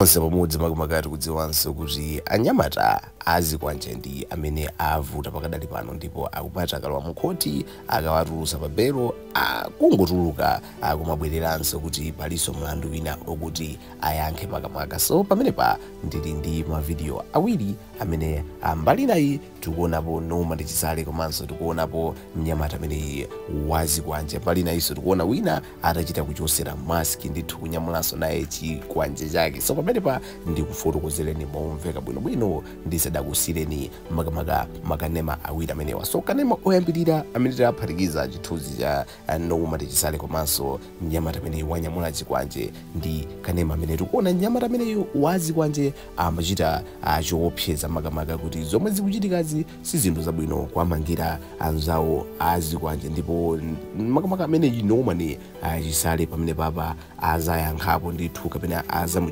Onse pamudzi makamaka tikudziwanso kuti anyamata a zikwanje ndi amene avuta pakadali pano ndipo akumati akalowa mu khothi akawatulusa pa belo akungotuluka akumabweleranso kuti palinso mlandu wina okuti ayankhe makamaka so pamenepa ndili ndi ma video awiri amene ali mbali inayi tikuonapo Norman Chisale komanso tikuonapo mnyamata ameneyi wazikwanje mbali inayiso tikuona wina atachita kuchosera maski ndithu kunyamulanso naye chikwanje chake so pamenepa ndikufotokozereni momveka bwinobwino ndisadakusiyireni makamaka makanema awiri amenewa so kanema oyambirira amene tayaphatikiza chithunzi cha Norman Chisale komanso mnyamata ameneyu wanyamula chikwanje ndi kanema amene tikuona mnyamata ameneyu wazikwanje amachita ah, chiopsezo makamaka kuti zomwe zikuchitikazi si zinthu zabwino kuwamangira anzawo azikwanje ndipo mm, makamaka ameneyi Norman Chisale pamenepapa azayankhapo ndithu kapena azamu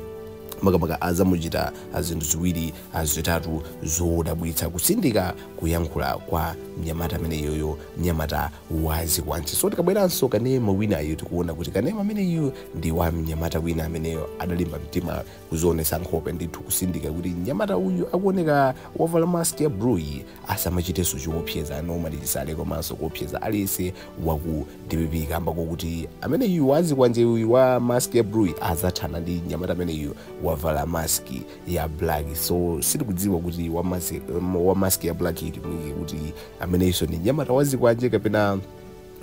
makamaka azamuchita ah, zinthu ziwiri ah, zitatu zodabwitsa kutsindika kuyankhula kwa mnyamata ameneyoyo mnyamata wazikwanje so tikabweranso kanema winayo tikuona kuti kanema ameneyu ndi wa mnyamata wina ameneyo adalimba mtima kuzionetsa nkhope ndithu kutsindika kuti mnyamata uyu akuoneka wavala mask ya blueyi asamachitenso chiopsezo a Norman Chisale komanso kuopseza aliyese waku dpp kamba kokuti ameneyu wazikwanje uyu wa mask ya blueyi azathana ndi mnyamata ameneyu wavala maski ya black so sitikudziwa kuti wa mask, wa mask ya blackiyi kuti ameneyinso ndi mnyamata wazikwanje kapena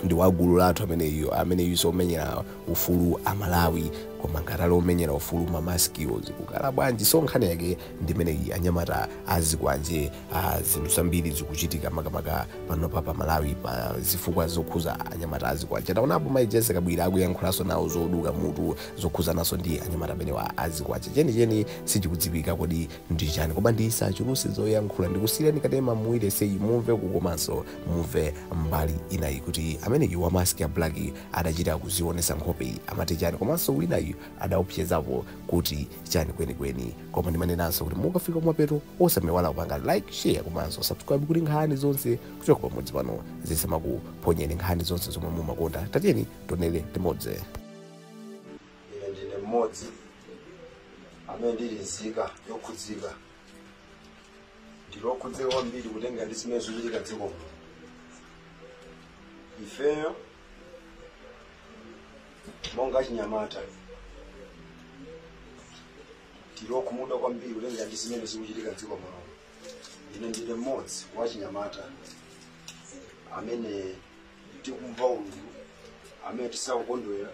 ndi wagulu lathu ameneyo ameneyinso omenyera ufulu amalawi koma ngati ali omenyera ufulu mamaskiwo zikukhala bwanji so nkhani yake ndimeneyi anyamata azikwanje Ah, zinthu zambiri zikuchitika makamaka panopa pa malawi pa zifukwa zokhuza anyamata azikwanje taonapo mai Jessie Kabwila akuyankhulanso nawo zoduka mutu zokhuzananso ndi anyamata amenewa azikwanje chenicheni sichikudziwika kodi ndi chani koma ndisachuluse zoyankhula ndikusiyirani kanema muwire seyi mumve komanso mumve mbali inayi kuti ameneyi wa mask ya black adachita kuzionesa nkhope iyi amati chani komanso winayu adaopsezapo kuti chani kwenikweni koma ndimanenanso kuti mukafika kumapeto osamaiwala kupanga like share komanso subscribe kuti nkhani zonse kuchoka pamudzi pano zisamakuphonyeni nkhani zonse zomwe mumakonda tatiyeni tionere limodzi ine ndine mmodzi amene ndili nzika yokhudzika ndili okhudzika kwambiri kutengera ndi zimene zikuchitika dziko muno ifeyo monga achinyamata tili okhumudwa kwambiri kutengera ndi zimene zikuchitika mdziko muno ine ndine mmodzi wa achinyamata amene tikumva ululu amene tisakukondwera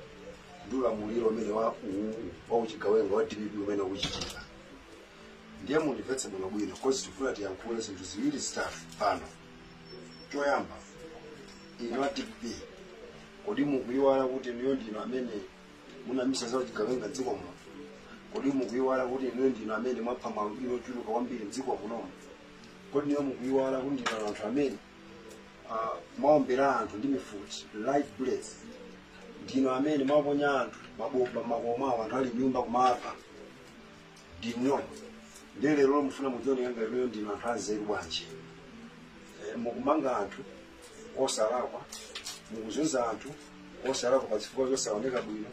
ndi ulamuliro umene wa uwu wa uchigawenga wa dpp zimene zikuchitika ndiye mundimvetse bwino bwino cause tifuna tiyankhule zinthu ziwiri zitatu pano choyamba inu a dpp kodi mukuyiwala kuti inuyo ndinu amene munayambitsa za chigawenga mdziko muno kodi mukuyiwala kuti inuyo ndinu amene mwapha maalubino ochuluka kwambiri mdziko munomo kodi inuyo mukuyiwala kuti ndinu anthu amene ah, mwaombera anthu ndi mifuti live bullets ndinu amene mwaponya anthu mabomba makomo awo anthu ali mnyumba kumawapha ndinuyo ndiye lero mufuna mudzioneka ngati inuyo ndinu anthu anzeru bwanji Eh, mukumanga anthu osalakwa mukuzunza anthu osalakwa pa zifukwa zosaoneka bwino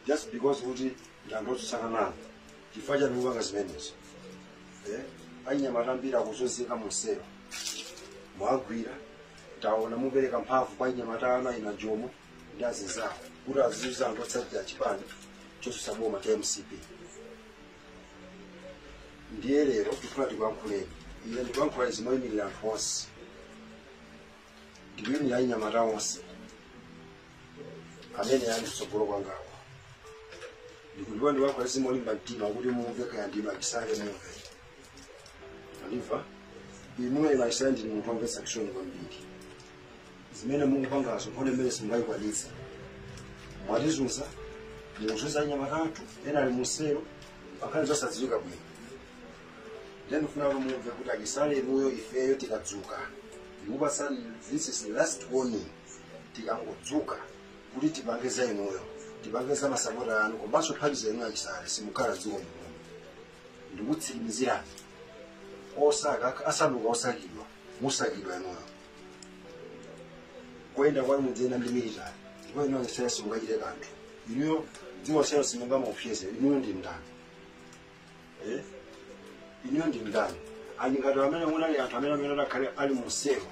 just because kuti ndanthu otsutsana nanu chifukwa chani mupanga zimenezo Eh, anyamata ambiri akuzunzika muselo mwagwira taona mupereka mphamvu kwa anyamata ana ana jomo ndi azinzawo kuti azizunza anthu otsatira chipani chotsutsa boma cha mcp ndiye lero tikufuna tikuyankhuleni ine ndikuyankhula izi moyimirira anthu onse ndikuyimirira anyamata onse amene ali kutsogolo kwangawa ndikuyankhula izi molimba mtima kuti mumve kaya ndi a chisale mumve a levi inu a chisale ndinu munthu omvetsa chisoni kwambiri zimene mukupangazo nkhondo imene simungayikwanitse mwatizunza mukuzunza anyamata athu ena ali muselo pa nkhani zosadziwika bwino ndiye ndifuna kuti mumve kuti achisale inuyo ifeyo tikadzuka ndikupatsani this is the last warning tikangodzuka kuti tipange za inuyo tipange za masapota anu komanso mphawi zanu achisale simukhala mdziko muno ndikutsimizirani osaka asanduka osakidwa musakidwa inuyo kuyenda kwanu mudziyenda ndi military ndipo inuyo simungachite kanthu inuyo dziko selo simungamuopseze inuyo ndi ndani Eh? inuyo ndi ndani ali ngati amene munali anthu amene akanakhala ali muselo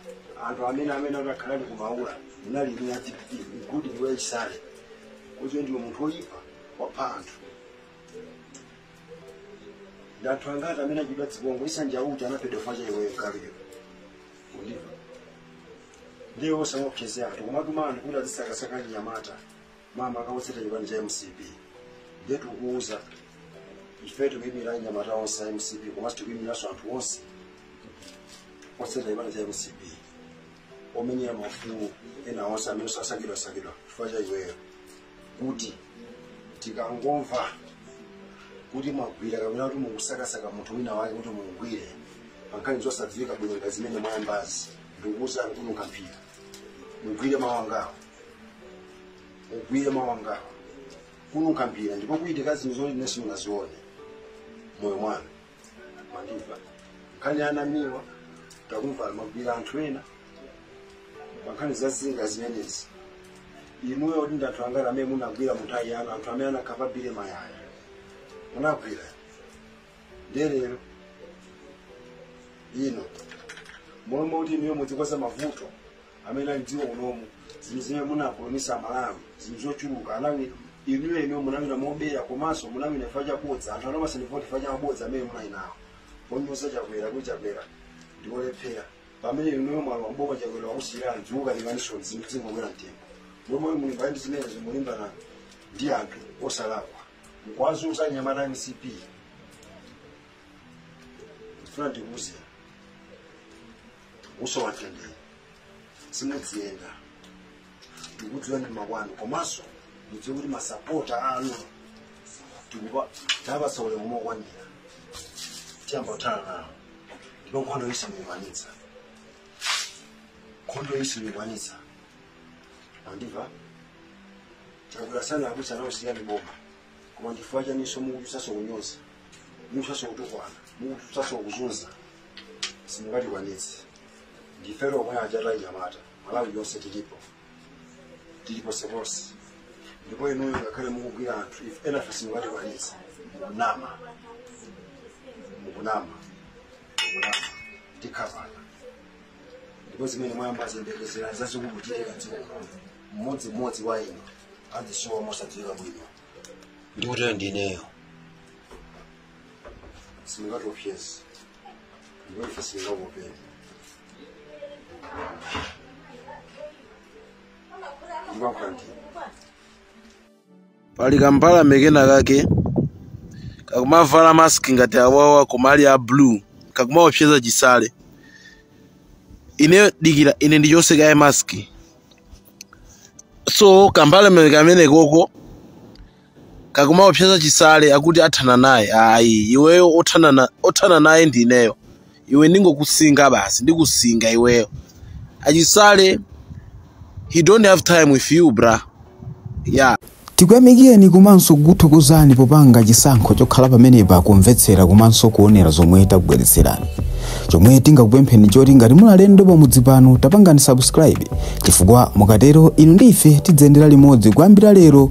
anthu amene akanakhala ali kumaula munali inu a dpp mkuti ndiwe chisale kuti ndiwe munthu woyipa wapha anthu ndi anthu angati amene aphedwa dziko lino isanja uti anaphedwa chifukwa cha iweyo kaliyo wandimva ndiye usamaopseze anthu kumatuma anthu kuti azisakasaka anyamata amene akuvotera chipani cha mcp ndiye tikuuza ife tikuyimira anyamata onse a mcp komanso tikuyimiranso anthu onse otseta chipani cha mcp omenyera maufulu ena onse amene akusakidwasakidwa chifukwa cha iweyo kuti tikangomva kuti mwagwira kapena kuti mukusakasaka munthu wina wake kuti mumugwire pankhani zosadziwika bwino ngati zimene mwayambazi ndikukuuzani kununkha mphira mugwire mawa ngawo mugwire mawa ngawo kununkha mphira ndipo kuchitika zinthu zoti inu simunazione moyo mwanu mwandimva nkhani ya anamiwa takumva mwagwira anthu ena pankhani za zilinga zimenezi inuyo kuti ndi anthu angati amene munagwira munthawi yanu anthu amene anakhapa Billy Mayaya munagwira ndiye lero ino mmalo moti inuyo mudzikonza mavuto amene ali mdziko munomu zinthu zimene munapulomisa amalawi zinthu zochuluka munawina inuyo inuyo munawina mobera komanso munawina chifukwa chabodza anthu anakupatsani voti chifukwa chamabodza amene munali nawo ponyoza chakwera kuti chakwera ndiolephera pamene inuyo mwalowa mboma chakwera wakusiyirani ziwukalinganisoni zinthu zikungokwera mtengo mmalo molimbana ndi zimenezo mukulimbana ndi anthu osalakwa mkuwazunza anyamata a mcp ndifuna ndikuuze musowa mtendere simudziyenda tikudziwa ndi makwanu komanso mudziwe kuti masapota anu tikuwapatsa ulemu mokwanira tiyamba kuthana nawo ndipo nkhondoyi simuyikwanitsa nkhondoyi simuyikwanitsa mwandimva chakwera sana akuti anakusiyirani boma koma nchifukwa chaninso mukuputanso kunyoza mukuputanso kutukwana mukuputanso kuzunza simungatikwanitse ndife omwe achata anyamata malawi yonse tilipo tili ponseponse ndipo inuyo ngakhale mukugwira anthu ife enafe simungatikwanitse mukunama mukunama mukunama tikhapana ndipo zimene mwayambazi muyembekezere zazikulu kuchitika dziko lino mmodzi mmodzi wa inu azisowa mosadziwika bwino ndikutero ndineyo simungatiopyeze ndipo ife sitingakuopeni ndimayankhula ndine pali kamphawi kena kake kakumavala mask ngati awawa koma ali a blue kakumaopseza chisale inuyo dikira ine ndichotse kaye mask so kamphawi kena kamenekoko kakumaopseza chisale akuti athana naye ayi iweyo othana na- othana naye ndi ineyo iwe ndingokusinga basi ndikusinga iweyo achisale he don't have time with you bra yeah tikuyamikireni komanso kukuthokozani popanga chisankho chokhala pamenepa kumvetsera komanso kuonera zomwe takubweretserani chomwe tingakupempheni choti ngati muli alendo pamudzi pano tapangani subscribe chifukwa mukatero inu ndi ife tidziyendera limodzi kuyambira lero